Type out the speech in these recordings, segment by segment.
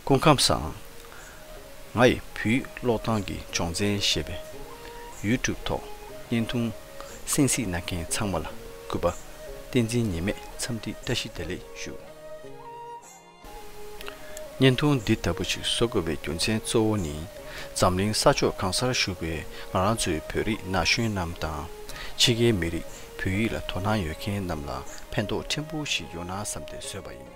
སྐུ་ཁམས་བཟང། ང་ཡི་བུའི་ཀློག་སྟངས་ཀྱི་སྦྱོང་ཚན་ཞེས་པའི YouTube ཐོག་བརྙན་ཐུང་སེང་གཟིགས་གནང་མཁན་ཚང་མ་ལ་གུས་པ་བསྟན་འཛིན་ཉེས་མེད་འཚམས་འདྲི་བཀྲ་ཤིས་བདེ་ལེགས་ཞུ། བརྙན་ཐུང་འདི་ལྟ་བུ་ཞིག་བཟོ་དགོས་པའི་རྒྱུ་མཚན་གཙོ་བོ་ནི་འཛམ་གླིང་ས་ཕྱོགས་གང་སར་བཞུགས་པའི་ང་རང་ཚོའི་བོད་རིགས་ན་གཞོན་རྣམས་དང། ཕྱི་རྒྱལ་མི་རིགས་བོད་ཡིག་ལ་དོ་སྣང་ཡོད་མཁན་རྣམས་ལ་ཕན་ཐོགས་ཕྲན་བུ་ཞིག་ཡོང་ན་བསམ་སྟེ་བཟོས་པ་ཡིན།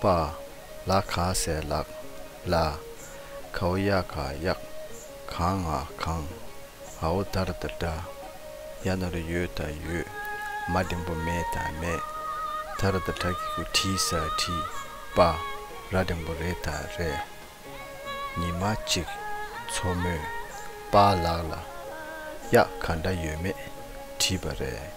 པ། ལ་ག་ཟས་ལག་ལ། གའུ་ཡ་ག་གཡག། གང་ང་གང། ཨའུ་དར་ད་དྲ། ཡ་ནོར་ཡོད་ད་ཡོད། མ་སྒྲིན་པོ་མེད་ད་མེད། དར་ད་དྲ་གི་གུ་དྲི་ཟ་དྲི། པ། ར་སྒྲིན་པོ་རེད་ད་རེ། ཉི་མ་གཅིག། མཚོ་མོས། པ་ལག་ལ། གཡག་ག་འདྲ་ཡོད་མེད་དྲིས་པ་རེད།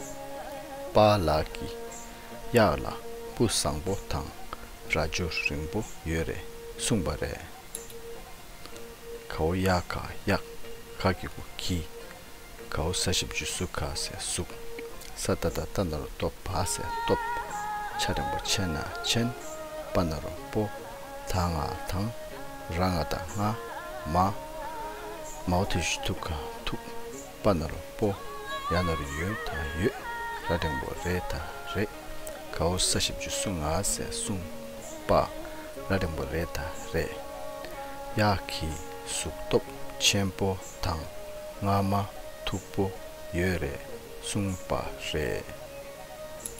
པ་ལགས་ཀྱིས་གཡག་ལ་སྤུ་བཟང་པོ་དང་རྭ་ཅོ་རིང་པོ་ཡོད་རེད་གསུངས་པ་རེད། གའུ་གཡག་ག་གཡག་ག་གི་བུ་ཁྱི། གའུ་ས་བཞི་བཅུ་སུ་ག་ཟེ་གཟུག་ས་ད་ད་ད་ནོར་སྟོབས་བ་ཟེ་སྟོབས། ཆ་རིང་པོ་ཆེ་ན་ཆེན་པ་ན་རོ་པོ་ད་ང་དང་ར་ང་ད་ང་མ། མའོ་ཐེ་ཞུ་ཐུག་ག་ཐུག། པ་ནོར་བུ་ཡ་ནོར་ཡོད་དང་ཡོད་ར་སྒྲེང་བོ་རེད་དང་རེད་གའུ་ས་བཞི་བཅུ་གསུམ་ང་ཟེར་གསུམ་པ་ར་སྒྲེང་བོ་རེད་དང་རེད་གཡག་གི་གཟུགས་སྟོབས་ཆེན་པོ་དང་རྔ་མ་མཐུག་པོ་ཡོད་རེད་གསུངས་པ་རེད།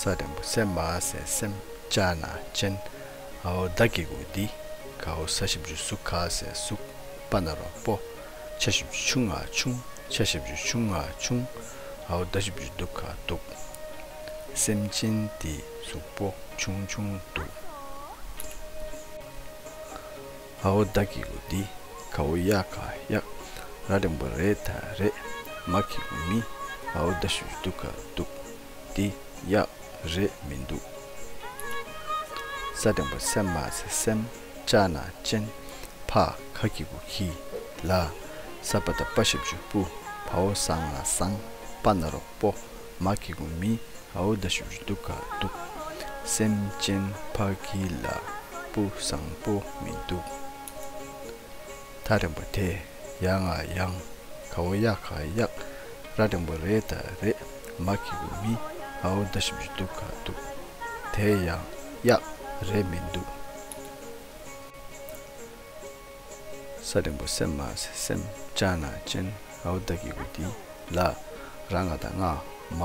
ས་དང་པོ་སེམས་མ་སེ་སེམས་ཅ་ན་ཅན། ཨའོ་བདག་གི་གུ་འདི་ག་ཨོ་ས་བཞི་བཅུ་གཟུགས་ག་སེ་གཟུགས་པ་ན་རོ་པོ། ཆ་བཞི་བཅུ་ཆུང་ཨ་ཆུང་ཆ་བཞི་བཅུ་ཆུང་ཨ་ཆུང། ཨའོ་བདག་བཞི་བཅུ་གདུགས་ག་གདུགས། སེམས་ཅན་འདི་གཟུགས་པོ་ཆུང་ཆུང་གདུགས། ཨ་ཨོ་བདག་གི་ལུགས་འདི་ག་ཨོ་ཡ་ག་ཡ་ར་རིང་པོ་རེད་ད་རེད་མ་གི་ཨོ་མི་ཨ་ཨོ་ད་ཞུས་འདུག་ག་འདུག་འདི་ཡ་རེད་མི་འདུག་ས་རིང་པོ་སེམས་མ་ཟེ་སེམས་ལྕགས་ནག་ཅན་ཕ་ག་གི་གུ་གི་ལ་ས་པ་ད་པ་ཞབས་ཇུ་པུ་བ་ཨོ་བཟང་ལ་བཟང་པ་ན་རོག་པོ་མ་ཀི་གུ་མི་ཨའོ་ད་ཤུར་འདུག་ག་འདུག། སེམས་ཅན་ཕ་གི་ལ་སྤུ་བཟང་པོ་མི་འདུག། ཐག་རིང་པོ་དེ་ཡག་ང་ཡང་ག་བོ་ཡག་ག་ཡག་ར་རིང་པོ་རེད་ད་རེད་མ་ཀི་གུ་མི་ཨའོ་ད་ཤུར་འདུག་ག་འདུག། དེ་ཡང་ཡག་རེད་མི་འདུག། ས་རིང་པོ་སེམས་མ་ཟེ་སེམས་ལྕགས་ནག་ཅན་ཨའུ་བདག་གི་བུ་འདི་ལ་ར་ང་དང་ངག་མ་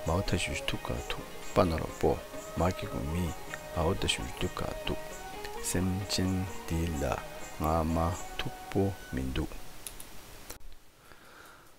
མའུ་མཐའ་ཞུ་ཞུ་ཐུགས་ཀ་ཐུག་པ་ནོར་བ་པོ་མ་གི་གུ་མི་ཨའུ་བདའ་ཞུ་ཞུ་ཐུགས་ཀ་ཐུག་སེམས་ཅན་འདི་ལ་ངག་མ་ཐུགས་པོ་མི་འདུག།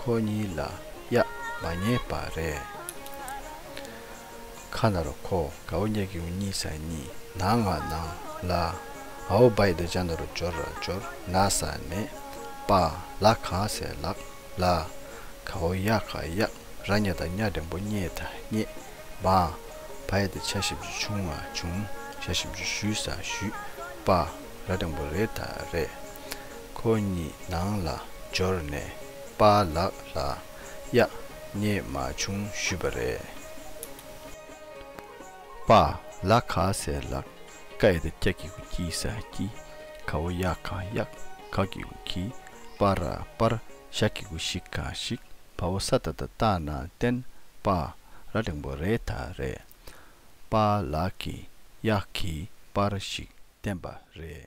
ཁོ་གཉིས་ལ་གཡག་མ་རྙེད་པ་རེད། ཁ་ནར་ཁོ་གའུ་སྙེག་ཡོང་གཉིས་ས་གཉིས་ན་ང་ནང་ལ་ཨའུ་བ་ཡི་འདི་ཅག་འདི་རུ་འབྱོར་ར་འབྱོར་ན་ས་ནས་པ་ལ་གང་ཟེ་ལགས་ལ་གའུ་གཡག་ག་གཡག་ར་རྙེད་ད་གཉའ་རིང་པོ་རྙེད་ད་རྙེད་མ་བ་ཡི་འདི་ཆ་ཞིབ་འཇུ་བྱུང་ང་བྱུང་ཆ་ཞིབ་འཇུ་ཞུས་ས་ཞུས་པ་ར་རིང་པོ་རེད་ད་རེད། ཁོ་གཉིས་ནང་ལ་འབྱོར་ནས་པཱ་ལགས་ལ་གཡག་རྙེད་མ་བྱུང་ཞུས་པ་རེད། པཱ་ལགས་ག་ཟེར་ལགས་ཀ་ཨེ་ད་ཀྱག་གི་གུ་གྱིས་ཟ་གི་ག་འོ་གཡག་ག་གཡག་ག་གི་གུ་གྱིས་པཱ་ར་པར་ཞག་གི་གུ་ཞིག་ག་ཞིག་བ་འོ་ས་ད་ད་ལྟ་ན་བསྟན་པཱ་ར་གླེང་པོ་རེད་ད་རེད། པཱ་ལགས་ཀྱིས་གཡག་གིས་པར་ཞིག་བསྟན་པ་རེད།